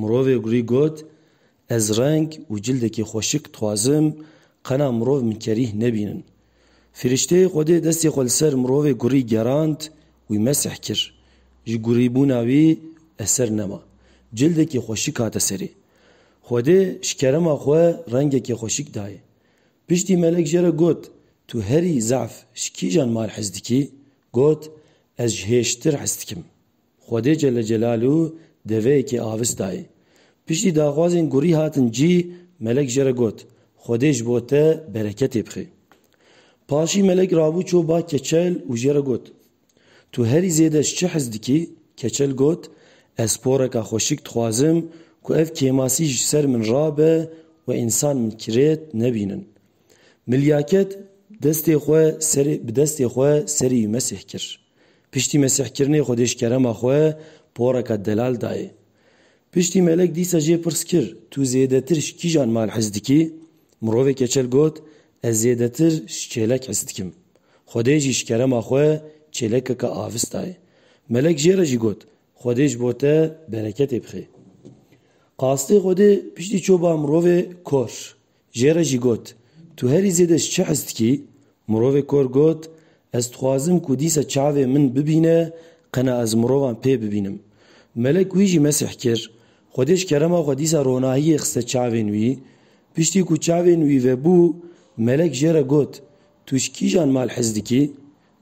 Mirovê gurî got, Ez reng û cildekî xweşik dixwazim, qena mirov min kerîh nebînin. Firîşteyê Xwedê destê xwe li ser mirovê gurî gerand, wî mesih kir. Ji gurîbûna wî eser nema. Cildekî xweşik hate serê. Xwedê ji kerema xwe rengekî xweşik dayê. Piştî melek jê re got, Tu herî zaf ji kîjan mal hez dikî? Got, Ez ji hêştir hez dikim. Xwedê Celle Celalu deveyekê avistayê. Piştî daxwazên gurî hatin cî, melek jê re got, Xwedê ji bo te bereketê bixê. Paşî melek rabû çû ba keçel û jê re got, Tu herî zêde ji çi hez dikî? Keçel got, Ez poreka xweşik dixwazim ku ev kêmasî ji ser min rabe û însan min kirêt nebînin. Milyaket destê xwe serê bi destê xwe serî wî Mesîh kir. Piştî mesîhkirinê Xwedê ji kerema xwe poreka delal dayê. Piştî melek dîsa jê pirs kir, Tu zêdetir ji kîjan mal hez dikî? Mirovê keçel got, Ez zêdetir ji çêlek hez dikim. Xwedê jî ji kerema xwe çêlekeke avis dayê. Melek jê re jî got, Xwedê ji bo te bereketê bixê. Qastê Xwedê piştî çû ba mirovê kor. Jê re jî got, Tu herî zêde ji çi hez dikî? Mirovê kor got, Ez dixwazim ku dîsa çavê min bibîne qena ez mirovan pê bibînim. Melek wî jî mesîh kir. Xwedê ji kerema xwe dîsa ronahiyê xiste çavên wî. Piştî ku çavên wî vebû, Melek jê re got, Tu ji kîjan mal hez dikî?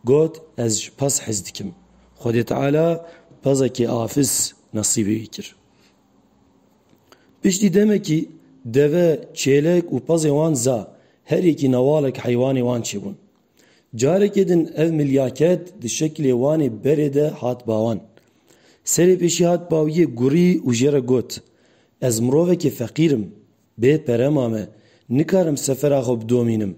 Got, Ez ji Pas hez dikim. Xwedê Teala Pazekê afis nesîbê wî kir. Piştî demekî deve, çêlek û pezê wan za, her yekî newalek heywanê wan çêbûn. Carekê din ev milyaket di şekilê wanê berê de hat bawan. Serê pêşî hat bawiyê gurî û jê re got, Ez mirovekî feqîr im, bê pere mame, nikarim sefera xwe bidomînim.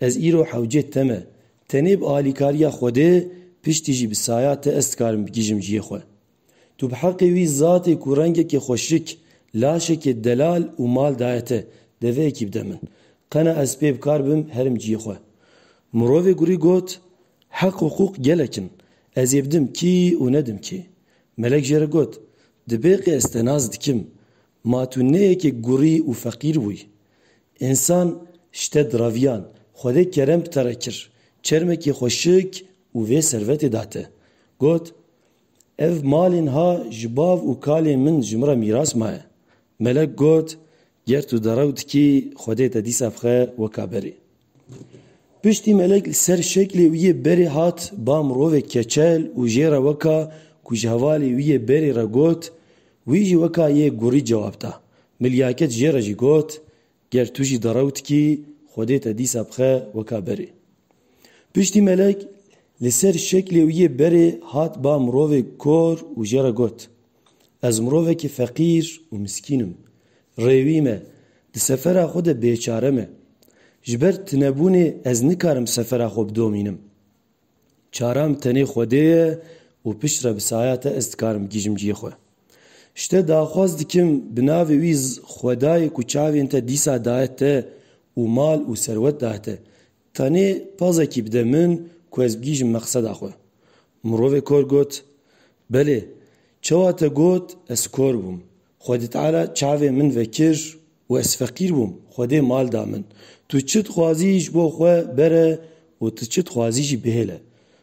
Ez îro hewcê te me. Tenê bi alîkariya Xwedê, piştî jî bi saya te ez dikarim bigihîjim cihê xwe. Tu bi heqê wî zatê ku rengekê xweşik, laşekê delal û mal daye te, deveyekî bide min. Qena ez pê bi kar bim herim ciyê xwe. Mirovê gurî got, Heq û hiqûq gelek in. Ez ê bidim kî û nedim kî. Melek jê re got, Di bêqê ez te nas dikim. Ma tu ne yekê gurî û feqîr bûyî. Însan ji te diraviyan. Xwedê kerem bi te re kir. Çermekê xweşik û vê servetê da te. Got, Ev malên ha ji bav û kalên min ji min re mîras maye. Melek got, Ger tu derew dikî Xwedê te dîsa bixe weka berê. Piştî Melek li ser şeklê wî yê berê hat ba mirovek keçel û jê re weka ku ji hevalê wî yê berê re got, wî jî weka yê gurî cewab da. Milyaket jê re jî got, Ger tu jî derewt kî Xwedê te dîsa bixe weka berê. Piştî Melek li ser şeklê wî yê berê hat ba mirovê kor û jê re got, Ez mirovekî feqîr û miskîn im. Rê wî me, di sefera xwe de bêçare me. Ji ber tunebûnê ez nikarim sefera xwe bidomînim. Çaram tenê Xwedê ye û pişt re bi saya te ez dikarim bigihîjim cihê xwe. Ji te daxwaz dikim bi navê wî Xwedayê ku çavên te dîsa daye te û mal û serwet daye te, tenê pazekî bide min ku ez bigihîjim meqseda xwe. Mirovê kor got, Belê, çawa te got ez kor bûm. Xwedî Teala çavên min vekir Û ez feqîr bûm, Xwedê mal da min. Tu çi dixwazî ji bo xwe bere û tu çi dixwazî jî bihêle.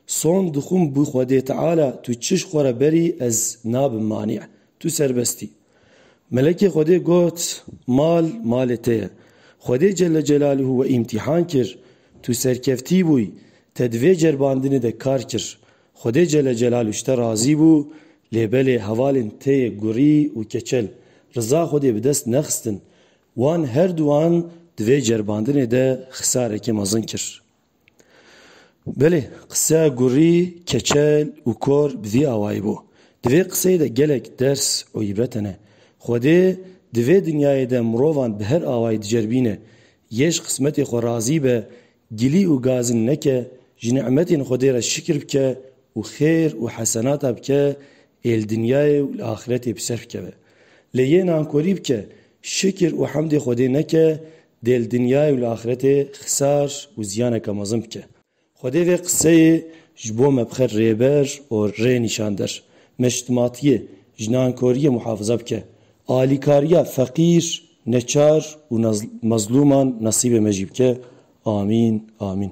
Son dixwim bi Xwedê Teala tu çi ji xwe re berî ez nabim manî. Tu serbest î. Melekê Xwedê got, Mal, malê te ye. Xwedê Celle Celalûhû we îmtîhan kir, tu serkeftî bûyî, te di vê ceribandinê de kar kir. Xwedê Cele Celalu ji te razî bû, lê belê hevalên te yê Gurî û Keçel, riza Xwedê bi dest nexistin. Wan her duwan di vê ceribandinê de xisarekê mezin kir. Belê, qiseya Gurî, Keçel û Kor bi vî awayî bû. Di vê qiseyê de gelek ders û îbret hene. Xwedê di vê dinyayê de mirovan bi her awayî diceribîne. Yê ji qismetê xwe razî be, Gilî û gazin neke, ji ni'metên Xwedê re şikir bike û xêr û hesenata bike ê li dinyayê û li axiretê bi ser bikeve. Lê yê nankorî bike, şikir û hemdê Xwedê neke, dê li dinyayê û li axiretê xisar û ziyaneke mezin bike. Xwedê vê qiseyê ji bo me bixe rêber û rênîşander. Me ji timatiyê, ji nankoriyê muhafize bike. Alîkariya feqîr, neçar û mezlûman nesîbê me jî bike. Amîn. Amîn.